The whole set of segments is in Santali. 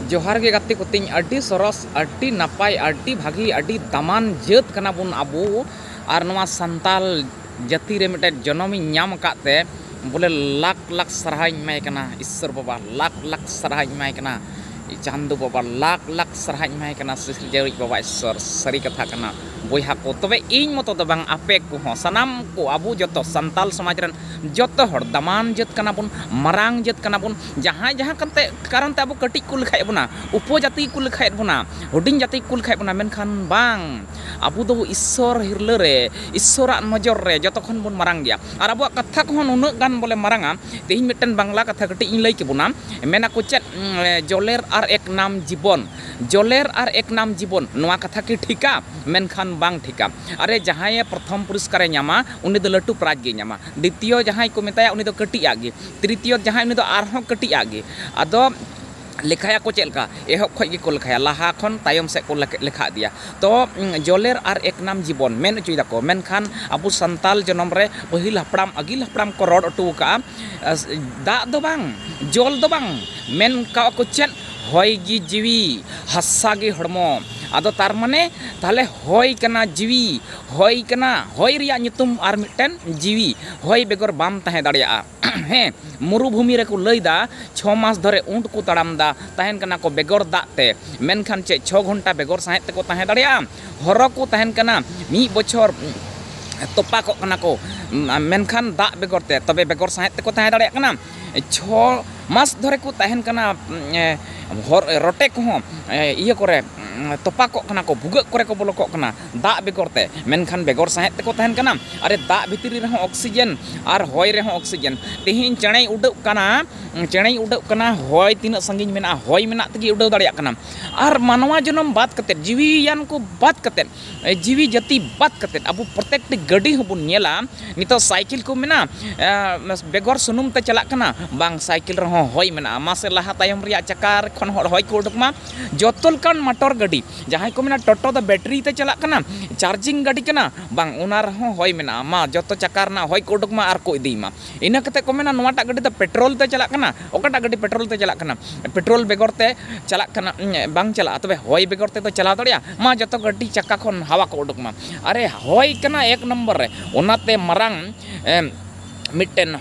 ᱡᱚᱦᱟᱨ ᱜᱮ ᱜᱟᱛᱮ ᱠᱚᱛᱤᱧ ᱟᱹᱰᱤ ᱥᱚᱨᱚᱥ ᱟᱹᱰᱤ ᱱᱟᱯᱟᱭ ᱟᱹᱰᱤ ᱵᱷᱟᱹᱜᱤ ᱟᱹᱰᱤ ᱫᱟᱢᱟᱱ ᱡᱟᱹᱛ ᱠᱟᱱᱟ ᱵᱚᱱ ᱟᱵᱚ ᱟᱨ ᱱᱚᱣᱟ ᱥᱟᱱᱛᱟᱞ ᱡᱟᱹᱛᱤ ᱨᱮ ᱢᱤᱫᱴᱮᱱ ᱡᱚᱱᱚᱢ ᱤᱧ ᱧᱟᱢ ᱟᱠᱟᱫ ᱛᱮ ᱵᱚᱞᱮ ᱞᱟᱠᱷ ᱞᱟᱠᱷ ᱥᱟᱨᱦᱟᱣ ᱤᱧ ᱮᱢᱟᱭ ᱠᱟᱱᱟ ᱤᱥᱥᱚᱨ ᱵᱟᱵᱟ ᱞᱟᱠᱷ ᱞᱟᱠᱷ ᱥᱟᱨᱦᱟᱣ ᱤᱧ ᱮᱢᱟᱭ ᱠᱟᱱᱟ ᱪᱟᱸᱫᱚ ᱵᱟᱵᱟ ᱞᱟᱠᱷ ᱞᱟᱠᱷ ᱥᱟᱨᱦᱟᱣ ᱤᱧ ᱮᱢᱟᱭ ᱠᱟᱱᱟ ᱥᱤᱨᱡᱟᱹᱣᱤᱡ ᱵᱟᱵᱟ ᱤᱥᱥᱚᱨ ᱥᱟᱹᱨᱤ ᱠᱟᱛᱷᱟ ᱠᱟᱱᱟ ᱵᱚᱭᱦᱟ ᱠᱚ ᱛᱚᱵᱮ ᱤᱧ ᱢᱚᱛᱚ ᱫᱚ ᱵᱟᱝ ᱟᱯᱮ ᱠᱚᱦᱚᱸ ᱥᱟᱱᱟᱢ ᱠᱚ ᱟᱵᱚ ᱡᱚᱛᱚ ᱥᱟᱱᱛᱟᱞ ᱥᱚᱢᱟᱡᱽ ᱨᱮᱱ ᱡᱚᱛᱚ ᱦᱚᱲ ᱫᱟᱢᱟᱱ ᱡᱟᱹᱛ ᱠᱟᱱᱟ ᱵᱚᱱ ᱢᱟᱨᱟᱝ ᱡᱟᱹᱛ ᱠᱟᱱᱟ ᱵᱚᱱ ᱡᱟᱦᱟᱸᱭ ᱡᱟᱦᱟᱸ ᱠᱟᱛᱮ ᱠᱟᱨᱚᱱ ᱛᱮ ᱟᱵᱚ ᱠᱟᱹᱴᱤᱡ ᱠᱚ ᱞᱮᱠᱷᱟᱭᱮᱫ ᱵᱚᱱᱟ ᱩᱯᱚᱡᱟᱹᱛᱤ ᱜᱮᱠᱚ ᱞᱮᱠᱷᱟᱭᱮᱫ ᱵᱚᱱᱟ ᱦᱩᱰᱤᱧ ᱡᱟᱹᱛᱤ ᱜᱮᱠᱚ ᱞᱮᱠᱷᱟᱭᱮᱫ ᱵᱚᱱᱟ ᱢᱮᱱᱠᱷᱟᱱ ᱵᱟᱝ ᱟᱵᱚ ᱫᱚ ᱤᱥᱥᱚᱨ ᱦᱤᱨᱞᱟᱹ ᱨᱮ ᱤᱥᱥᱚᱨᱟᱜ ᱱᱚᱡᱚᱨ ᱨᱮ ᱡᱚᱛᱚ ᱠᱷᱚᱱ ᱵᱚᱱ ᱢᱟᱨᱟᱝ ᱜᱮᱭᱟ ᱟᱨ ᱟᱵᱚᱣᱟᱜ ᱠᱟᱛᱷᱟ ᱠᱚᱦᱚᱸ ᱱᱩᱱᱟᱹᱜ ᱜᱟᱱ ᱵᱚᱞᱮ ᱢᱟᱨᱟᱝᱟ ᱛᱮᱦᱮᱧ ᱢᱤᱫᱴᱮᱱ ᱵᱟᱝᱞᱟ ᱠᱟᱛᱷᱟ ᱠᱟᱹᱴᱤᱡ ᱤᱧ ᱞᱟᱹᱭ ᱠᱮᱵᱚᱱᱟ ᱢᱮᱱ ᱟᱠᱚ ᱪᱮᱫ ᱡᱚᱞᱮᱨ ᱟᱨ ᱮᱠ ᱱᱟᱢ ᱡᱤᱵᱚᱱ ᱡᱚᱞᱮᱨ ᱟᱨ ᱮᱠ ᱱᱟᱢ ᱡᱤᱵᱚᱱ ᱱᱚᱣᱟ ᱠᱟᱛᱷᱟ ᱠᱤ ᱴᱷᱤᱠᱟ ᱢᱮᱱᱠᱷᱟᱱ ᱵᱟᱝ ᱴᱷᱤᱠᱟ ᱟᱨᱮ ᱡᱟᱦᱟᱸᱭᱮ ᱯᱨᱚᱛᱷᱚᱢ ᱯᱩᱨᱚᱥᱠᱟᱨᱮ ᱧᱟᱢᱟ ᱩᱱᱤ ᱫᱚ ᱞᱟᱹᱴᱩ ᱯᱨᱟᱭᱤᱡᱽ ᱜᱮᱭ ᱧᱟᱢᱟ ᱫᱤᱛᱤᱭᱚ ᱡᱟᱦᱟᱸᱭ ᱠᱚ ᱢᱮᱛᱟᱭᱟ ᱩᱱᱤ ᱫᱚ ᱠᱟᱹᱴᱤᱡ ᱟᱜ ᱜᱮ ᱛᱨᱤᱛᱤᱭᱚ ᱡᱟᱦᱟᱸᱭ ᱩᱱᱤ ᱫᱚ ᱟᱨᱦᱚᱸ ᱠᱟᱹᱴᱤᱡ ᱟᱜ ᱜᱮ ᱟᱫᱚ ᱞᱮᱠᱷᱟᱭᱟᱠᱚ ᱪᱮᱫ ᱞᱮᱠᱟ ᱮᱦᱚᱵ ᱠᱷᱚᱱ ᱜᱮᱠᱚ ᱞᱮᱠᱷᱟᱭᱟ ᱞᱟᱦᱟ ᱠᱷᱚᱱ ᱛᱟᱭᱚᱢ ᱥᱮᱫ ᱠᱚ ᱞᱮᱠᱷᱟ ᱤᱫᱤᱭᱟ ᱛᱚ ᱡᱚᱞᱮᱨ ᱟᱨ ᱮᱠ ᱱᱟᱢ ᱡᱤᱵᱚᱱ ᱢᱮᱱ ᱦᱚᱪᱚᱭ ᱫᱟᱠᱚ ᱢᱮᱱᱠᱷᱟᱱ ᱟᱵᱚ ᱥᱟᱱᱛᱟᱲ ᱡᱚᱱᱚᱢ ᱨᱮ ᱯᱟᱹᱦᱤᱞ ᱦᱟᱯᱲᱟᱢ ᱟᱹᱜᱤᱞ ᱦᱟᱯᱲᱟᱢ ᱠᱚ ᱨᱚᱲ ᱦᱚᱴᱚ ᱠᱟᱜᱼᱟ ᱫᱟᱜ ᱫᱚ ᱵᱟᱝ ᱡᱚᱞ ᱫᱚ ᱵᱟᱝ ᱢᱮᱱ ᱠᱟᱜᱼᱟ ᱠᱚ ᱪᱮᱫ ᱦᱚᱭ ᱜᱮ ᱡᱤᱣᱤ ᱦᱟᱥᱟ ᱜᱮ ᱦᱚᱲᱢᱚ ᱟᱫᱚ ᱛᱟᱨ ᱢᱟᱱᱮ ᱛᱟᱦᱚᱞᱮ ᱦᱚᱭ ᱠᱟᱱᱟ ᱡᱤᱣᱤ ᱦᱚᱭ ᱠᱟᱱᱟ ᱦᱚᱭ ᱨᱮᱭᱟᱜ ᱧᱩᱛᱩᱢ ᱟᱨ ᱢᱤᱫᱴᱮᱱ ᱡᱤᱣᱤ ᱦᱚᱭ ᱵᱮᱜᱚᱨ ᱵᱟᱢ ᱛᱟᱦᱮᱸ ᱫᱟᱲᱮᱭᱟᱜᱼᱟ᱾ ᱦᱮᱸ, ᱢᱩᱨᱩᱵᱷᱩᱢᱤ ᱨᱮ ᱠᱚ ᱞᱟᱹᱭ ᱫᱟ ᱪᱷᱚ ᱢᱟᱥ ᱫᱷᱚᱨᱮ ᱩᱸᱴ ᱠᱚ ᱛᱟᱲᱟᱢ ᱫᱟ, ᱛᱟᱦᱮᱸᱱ ᱠᱟᱱᱟ ᱠᱚ ᱵᱮᱜᱚᱨ ᱫᱟᱜ ᱛᱮ᱾ ᱢᱮᱱᱠᱷᱟᱱ ᱪᱮᱫ ᱪᱷᱚ ᱜᱷᱚᱱᱴᱟ ᱵᱮᱜᱚᱨ ᱥᱟᱸᱦᱮᱫ ᱛᱮᱠᱚ ᱛᱟᱦᱮᱸ ᱫᱟᱲᱮᱭᱟᱜᱼᱟ? ᱦᱚᱨᱚ ᱠᱚ ᱛᱟᱦᱮᱸᱱ ᱠᱟᱱᱟ ᱢᱤᱫ ᱵᱚᱪᱷᱚᱨ ᱛᱚᱯᱟ ᱠᱚᱜ ᱠᱟᱱᱟ ᱠᱚ ᱢᱮᱱᱠᱷᱟᱱ ᱫᱟᱜ ᱵᱮᱜᱚᱨ ᱛᱮ᱾ ᱛᱚᱵᱮ ᱵᱮᱜᱚᱨ ᱥᱟᱸᱦᱮᱫ ᱛᱮᱠᱚ ᱛᱟᱦᱮᱸ ᱫᱟᱲᱮᱭᱟᱜ ᱠᱟᱱᱟ᱾ ᱪᱷᱚ ᱢᱟᱥ ᱫᱷᱚᱨᱮ ᱠᱚ ᱛᱟᱦᱮᱱ ᱠᱟᱱᱟ ᱦᱚᱨ ᱨᱚᱴᱮ ᱠᱚᱦᱚᱸ ᱤᱭᱟᱹ ᱠᱚᱨᱮ ᱛᱚᱯᱟ ᱠᱚᱜ ᱠᱟᱱᱟ ᱠᱚ ᱵᱷᱩᱜᱟᱹᱜ ᱠᱚᱨᱮ ᱠᱚ ᱵᱚᱞᱚ ᱠᱚᱜ ᱠᱟᱱᱟ ᱫᱟᱜ ᱵᱮᱜᱚᱨ ᱛᱮ ᱢᱮᱱᱠᱷᱟᱱ ᱵᱮᱜᱚᱨ ᱥᱟᱦᱮᱸᱫ ᱛᱮᱠᱚ ᱛᱟᱦᱮᱱ ᱠᱟᱱᱟ ᱟᱨ ᱫᱟᱜ ᱵᱷᱤᱛᱨᱤ ᱨᱮᱦᱚᱸ ᱚᱠᱥᱤᱡᱮᱱ ᱟᱨ ᱦᱚᱭ ᱨᱮᱦᱚᱸ ᱚᱠᱥᱤᱡᱮᱱ ᱛᱮᱦᱮᱧ ᱪᱮᱬᱮᱭ ᱩᱰᱟᱹᱜ ᱠᱟᱱᱟ ᱪᱮᱬᱮᱭ ᱩᱰᱟᱹᱜ ᱠᱟᱱᱟ ᱦᱚᱭ ᱛᱤᱱᱟᱹᱜ ᱥᱟᱺᱜᱤᱧ ᱢᱮᱱᱟᱜᱼᱟ ᱦᱚᱭ ᱢᱮᱱᱟᱜ ᱛᱮᱜᱮ ᱩᱰᱟᱹᱣ ᱫᱟᱲᱮᱭᱟᱜ ᱠᱟᱱᱟ ᱟᱨ ᱢᱟᱱᱣᱟ ᱡᱚᱱᱚᱢ ᱵᱟᱫ ᱠᱟᱛᱮ ᱡᱤᱣᱤᱭᱟᱱ ᱠᱚ ᱵᱟᱫ ᱠᱟᱛᱮ ᱡᱤᱣᱤ ᱡᱟᱹᱛᱤ ᱵᱟᱫ ᱠᱟᱛᱮ ᱟᱵᱚ ᱯᱨᱚᱛᱮᱠᱴᱤ ᱜᱟᱹᱰᱤ ᱦᱚᱸᱵᱚᱱ ᱧᱮᱞᱟ ᱱᱤᱛᱚᱜ ᱥᱟᱭᱠᱮᱞ ᱠᱚ ᱢᱮᱱᱟᱜᱼᱟ ᱵᱮᱜᱚᱨ ᱥᱩᱱᱩᱢ ᱛᱮ ᱪᱟᱞᱟᱜ ᱠᱟᱱᱟ ᱵᱟᱝ ᱥᱟᱭᱠᱮᱞ ᱨᱮᱦᱚᱸ ᱦᱚᱭ ᱢᱮᱱᱟᱜᱼᱟ ᱢᱟᱥᱮ ᱞᱟᱦᱟ ᱛᱟᱭᱚᱢ ᱨᱮᱭᱟᱜ ᱪᱟᱠᱟ ᱠᱷᱚᱱ ᱦᱚᱸ ᱦᱚᱭ ᱠᱚ ᱩᱰᱩᱠ ᱢᱟ ᱡᱚᱛᱚ ᱞᱮᱠᱟᱱ ᱢᱚᱴᱚᱨ ᱜᱟᱹᱰᱤ ᱡᱟᱦᱟᱸᱭ ᱠᱚ ᱢᱮᱱᱟ ᱴᱳᱴᱳ ᱫᱚ ᱵᱮᱴᱨᱤ ᱛᱮ ᱪᱟᱞᱟᱜ ᱠᱟᱱᱟ ᱪᱟᱨᱡᱤᱝ ᱜᱟᱹᱰᱤ ᱠᱟᱱᱟ ᱵᱟᱝ ᱚᱱᱟ ᱨᱮᱦᱚᱸ ᱦᱚᱭ ᱢᱮᱱᱟᱜᱼᱟ ᱢᱟ ᱡᱚᱛᱚ ᱪᱟᱠᱟ ᱨᱮᱱᱟᱜ ᱦᱚᱭ ᱠᱚ ᱩᱰᱩᱠ ᱢᱟ ᱟᱨ ᱠᱚ ᱤᱫᱤᱭ ᱢᱟ ᱤᱱᱟᱹ ᱠᱟᱛᱮᱫ ᱠᱚ ᱢᱮᱱᱟ ᱱᱚᱣᱟᱴᱟᱜ ᱜᱟᱹᱰᱤ ᱫᱚ ᱯᱮᱴᱨᱳᱞ ᱛᱮ ᱪᱟᱞᱟᱜ ᱠᱟᱱᱟ ᱚᱠᱟᱴᱟᱜ ᱜᱟᱹᱰᱤ ᱯᱮᱴᱨᱳᱞ ᱛᱮ ᱪᱟᱞᱟᱜ ᱠᱟᱱᱟ ᱯᱮᱴᱨᱳᱞ ᱵᱮᱜᱚᱨ ᱛᱮ ᱪᱟᱞᱟᱜ ᱠᱟᱱᱟ ᱵᱟᱝ ᱪᱟᱞᱟᱜᱼᱟ ᱛᱚᱵᱮ ᱦᱚᱭ ᱵᱮᱜᱚᱨ ᱛᱮᱫᱚ ᱪᱟᱞᱟᱣ ᱫᱟᱲᱮᱭᱟᱜᱼᱟ ᱢᱟ ᱡᱚᱛᱚ ᱜᱟᱹᱰᱤ ᱪᱟᱠᱟ ᱠᱷᱚᱱ ᱦᱟᱣᱟ ᱠᱚ ᱩᱰᱩᱠ ᱢᱟ ᱟᱨᱮ ᱦᱚᱭ ᱠᱟᱱᱟ ᱮᱠ ᱱᱚᱢᱵᱚᱨ ᱨᱮ ᱚᱱᱟᱛᱮ ᱢᱟᱨᱟᱝ ᱢᱤᱫᱴᱮᱱ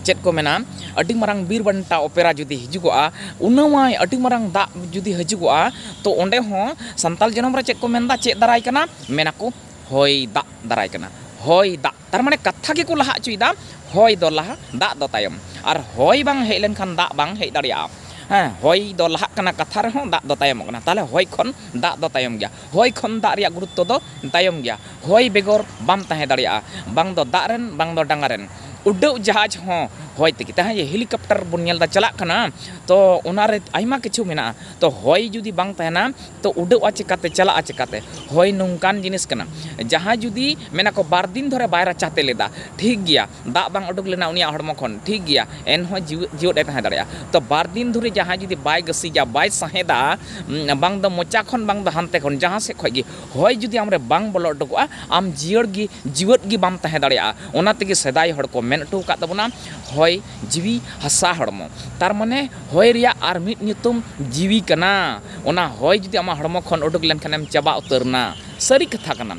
ᱪᱮᱫ ᱠᱚ ᱢᱮᱱᱟ ᱟᱹᱰᱤ ᱢᱟᱨᱟᱝ ᱵᱤᱨ ᱵᱟᱱᱴᱟ ᱚᱯᱮᱨᱟ ᱡᱩᱫᱤ ᱦᱤᱡᱩᱜᱚᱜᱼᱟ ᱩᱱᱟᱹᱣᱟᱹᱭ ᱟᱹᱰᱤ ᱢᱟᱨᱟᱝ ᱫᱟᱜ ᱡᱩᱫᱤ ᱦᱤᱡᱩᱜᱚᱜᱼᱟ ᱛᱚ ᱚᱸᱰᱮ ᱦᱚᱸ ᱥᱟᱱᱛᱟᱲ ᱡᱚᱱᱚᱢ ᱨᱮ ᱪᱮᱫ ᱠᱚ ᱢᱮᱱᱫᱟ ᱪᱮᱫ ᱫᱟᱨᱟᱭ ᱠᱟᱱᱟ ᱢᱮᱱ ᱟᱠᱚ ᱦᱚᱭ ᱫᱟᱜ ᱫᱟᱨᱟᱭ ᱠᱟᱱᱟ ᱦᱚᱭ ᱫᱟᱜ ᱛᱟᱨᱢᱟᱱᱮ ᱠᱟᱛᱷᱟ ᱜᱮᱠᱚ ᱞᱟᱦᱟ ᱚᱪᱚᱭᱮᱫᱟ ᱦᱚᱭ ᱫᱚ ᱞᱟᱦᱟ ᱫᱟᱜ ᱫᱚ ᱛᱟᱭᱚᱢ ᱟᱨ ᱦᱚᱭ ᱵᱟᱝ ᱦᱮᱡ ᱞᱮᱱᱠᱷᱟᱱ ᱫᱟᱜ ᱵᱟᱝ ᱦᱮᱡ ᱫᱟᱲᱮᱭᱟᱜᱼᱟ ᱦᱮᱸ ᱦᱚᱭ ᱫᱚ ᱞᱟᱦᱟᱜ ᱠᱟᱱᱟ ᱠᱟᱛᱷᱟ ᱨᱮᱦᱚᱸ ᱫᱟᱜ ᱫᱚ ᱛᱟᱭᱚᱢᱚᱜ ᱠᱟᱱᱟ ᱛᱟᱦᱚᱞᱮ ᱦᱚᱭ ᱠᱷᱚᱱ ᱫᱟᱜ ᱫᱚ ᱛᱟᱭᱚᱢ ᱜᱮᱭᱟ ᱦᱚᱭ ᱠᱷᱚᱱ ᱫᱟᱜ ᱨᱮᱭᱟᱜ ᱜᱩᱨᱩᱛᱛᱚ ᱫᱚ ᱛᱟᱭᱚᱢ ᱜᱮᱭᱟ ᱦᱚᱭ ᱵᱮᱜᱚᱨ ᱵᱟᱢ ᱛᱟᱦᱮᱸ ᱫᱟᱲᱮᱭᱟᱜᱼᱟ ᱵᱟᱝ ᱫᱚ ᱫᱟᱜ ᱨᱮᱱ ᱵᱟᱝ ᱫᱚ ᱰᱟᱸᱜᱟ ᱨᱮᱱ ᱩᱰᱟᱹᱜ ᱡᱟᱦᱟᱡᱽ ᱦᱚᱸ ᱦᱚᱭ ᱛᱮᱜᱮ ᱛᱟᱦᱮᱸ ᱡᱮ ᱦᱮᱞᱤᱠᱚᱯᱴᱟᱨ ᱵᱚᱱ ᱧᱮᱞ ᱮᱫᱟ ᱪᱟᱞᱟᱜ ᱠᱟᱱᱟ ᱛᱚ ᱚᱱᱟᱨᱮ ᱟᱭᱢᱟ ᱠᱤᱪᱷᱩ ᱢᱮᱱᱟᱜᱼᱟ ᱛᱚ ᱦᱚᱭ ᱡᱩᱫᱤ ᱵᱟᱝ ᱛᱟᱦᱮᱱᱟ ᱛᱚ ᱩᱰᱟᱹᱜᱼᱟ ᱪᱤᱠᱟᱹᱛᱮ ᱪᱟᱞᱟᱜᱼᱟ ᱪᱤᱠᱟᱹᱛᱮ ᱦᱚᱭ ᱱᱚᱝᱠᱟᱱ ᱡᱤᱱᱤᱥ ᱠᱟᱱᱟ ᱡᱟᱦᱟᱸᱭ ᱡᱩᱫᱤ ᱢᱮᱱᱟ ᱠᱚ ᱵᱟᱨ ᱫᱤᱱ ᱫᱷᱚᱨᱮ ᱵᱟᱭ ᱨᱟᱪᱟ ᱛᱮᱫ ᱞᱮᱫᱟ ᱴᱷᱤᱠ ᱜᱮᱭᱟ ᱫᱟᱜ ᱵᱟᱝ ᱩᱰᱩᱠ ᱞᱮᱱᱟ ᱩᱱᱤᱭᱟᱜ ᱦᱚᱲᱢᱚ ᱠᱷᱚᱱ ᱴᱷᱤᱠ ᱜᱮᱭᱟ ᱮᱱᱦᱚᱸ ᱡᱤᱣᱤ ᱡᱤᱭᱟᱹᱫ ᱮ ᱛᱟᱦᱮᱸ ᱫᱟᱲᱮᱭᱟᱜᱼᱟ ᱛᱚ ᱵᱟᱨ ᱫᱤᱱ ᱫᱷᱚᱨᱮ ᱡᱟᱦᱟᱸᱭ ᱡᱩᱫᱤ ᱵᱟᱭ ᱜᱟᱹᱥᱤᱡᱟ ᱵᱟᱭ ᱥᱟᱦᱮᱸᱫᱟ ᱵᱟᱝ ᱫᱚ ᱢᱚᱪᱟ ᱠᱷᱚᱱ ᱵᱟᱝ ᱫᱚ ᱦᱟᱱᱛᱮ ᱠᱷᱚᱱ ᱡᱟᱦᱟᱸ ᱥᱮᱫ ᱠᱷᱚᱱ ᱜᱮ ᱦᱚᱭ ᱡᱩᱫᱤ ᱟᱢ ᱨᱮ ᱵᱟᱝ ᱵᱚᱞᱚ ᱩᱰᱩᱠᱚᱜᱼᱟ ᱟᱢ ᱡᱤᱭᱟᱹᱲ ᱜᱮ ᱡᱤᱣᱮᱫ ᱜᱮ ᱵᱟᱢ ᱛᱟᱦᱮᱸ ᱫᱟᱲᱮᱭᱟᱜᱼᱟ ᱚᱱᱟ ᱛᱮᱜᱮ ᱥᱮᱫᱟᱭ ᱦᱚᱲ ᱠᱚ ᱢᱮᱱ ᱦᱚᱴᱚ ᱟᱠᱟᱫ ᱛᱟᱵᱚᱱᱟ ᱦᱚᱭ ᱡᱤᱣᱤ ᱦᱟᱥᱟ ᱦᱚᱲᱢᱚ ᱛᱟᱨ ᱢᱟᱱᱮ ᱦᱚᱭ ᱨᱮᱭᱟᱜ ᱟᱨ ᱢᱤᱫ ᱧᱩᱛᱩᱢ ᱡᱤᱣᱤ ᱠᱟᱱᱟ ᱚᱱᱟ ᱦᱚᱭ ᱡᱩᱫᱤ ᱟᱢᱟᱜ ᱦᱚᱲᱢᱚ ᱠᱷᱚᱱ ᱩᱰᱩᱠ ᱞᱮᱱ ᱠᱷᱟᱱᱮᱢ ᱪᱟᱵᱟ ᱩᱛᱟᱹᱨ ᱮᱱᱟ ᱥᱟᱹᱨᱤ ᱠᱟᱛᱷᱟ ᱠᱟᱱᱟ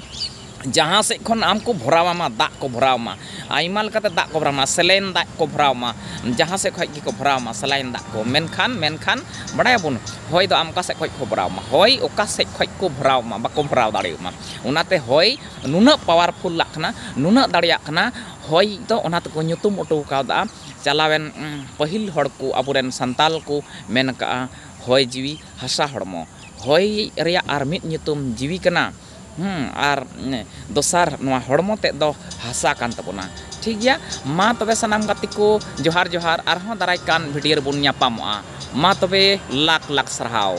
ᱡᱟᱦᱟᱸ ᱥᱮᱫ ᱠᱷᱚᱱ ᱟᱢ ᱠᱚ ᱵᱷᱚᱨᱟᱣ ᱟᱢᱟ ᱫᱟᱜ ᱠᱚ ᱵᱷᱚᱨᱟᱣ ᱟᱢᱟ ᱟᱭᱢᱟ ᱞᱮᱠᱟᱛᱮ ᱫᱟᱜ ᱠᱚ ᱵᱷᱚᱨᱟᱣ ᱟᱢᱟ ᱥᱮᱞᱟᱭᱤᱱ ᱫᱟᱜ ᱠᱚ ᱵᱷᱚᱨᱟᱣ ᱟᱢᱟ ᱡᱟᱦᱟᱸ ᱥᱮᱫ ᱠᱷᱚᱱ ᱜᱮᱠᱚ ᱵᱷᱚᱨᱟᱣ ᱟᱢᱟ ᱥᱮᱞᱟᱭᱤᱱ ᱫᱟᱜ ᱠᱚ ᱢᱮᱱᱠᱷᱟᱱ ᱢᱮᱱᱠᱷᱟᱱ ᱵᱟᱲᱟᱭ ᱟᱵᱚᱱ ᱦᱚᱭ ᱫᱚ ᱟᱢ ᱚᱠᱟ ᱥᱮᱫ ᱠᱷᱚᱱ ᱠᱚ ᱵᱷᱚᱨᱟᱣ ᱟᱢᱟ ᱦᱚᱭ ᱚᱠᱟ ᱥᱮᱫ ᱠᱷᱚᱱ ᱠᱚ ᱵᱷᱚᱨᱟᱣ ᱟᱢᱟ ᱵᱟᱠᱚ ᱵᱷᱚᱨᱟᱣ ᱫᱟᱲᱮᱭᱟᱢᱟ ᱚᱱᱟᱛᱮ ᱦᱚᱭ ᱱᱩᱱᱟᱹᱜ ᱯᱟᱣᱟᱨᱯᱷᱩᱞᱟᱜ ᱠᱟᱱᱟ ᱱᱩᱱᱟᱹᱜ ᱫᱟᱲᱮᱭᱟᱜ ᱠᱟᱱᱟ ᱦᱚᱭ ᱫᱚ ᱚᱱᱟ ᱛᱮᱠᱚ ᱧᱩᱛᱩᱢ ᱚᱴᱚ ᱟᱠᱟᱣᱫᱟ ᱪᱟᱞᱟᱣᱮᱱ ᱯᱟᱹᱦᱤᱞ ᱦᱚᱲ ᱠᱚ ᱟᱵᱚ ᱨᱮᱱ ᱥᱟᱱᱛᱟᱞ ᱠᱚ ᱢᱮᱱ ᱟᱠᱟᱫᱼᱟ ᱦᱚᱭ ᱡᱤᱣᱤ ᱦᱟᱥᱟ ᱦᱚᱲᱢᱚ ᱦᱚᱭ ᱨᱮᱭᱟᱜ ᱟᱨ ᱢᱤᱫ ᱧᱩᱛᱩᱢ ᱡᱤᱣᱤ ᱠᱟᱱᱟ ᱟᱨ ᱫᱚᱥᱟᱨ ᱱᱚᱣᱟ ᱦᱚᱲᱢᱚ ᱛᱮᱫ ᱫᱚ ᱦᱟᱥᱟ ᱠᱟᱱ ᱛᱟᱵᱚᱱᱟ ᱴᱷᱤᱠ ᱜᱮᱭᱟ ᱢᱟ ᱛᱚᱵᱮ ᱥᱟᱱᱟᱢ ᱜᱟᱛᱮ ᱠᱚ ᱡᱚᱦᱟᱨ ᱡᱚᱦᱟᱨ ᱟᱨᱦᱚᱸ ᱫᱟᱨᱟᱭ ᱠᱟᱱ ᱵᱷᱤᱰᱤᱭᱳ ᱨᱮᱵᱚᱱ ᱧᱟᱯᱟᱢᱚᱜᱼᱟ ᱢᱟ ᱛᱚᱵᱮ ᱞᱟᱠᱷ ᱞᱟᱠᱷ ᱥᱟᱨᱦᱟᱣ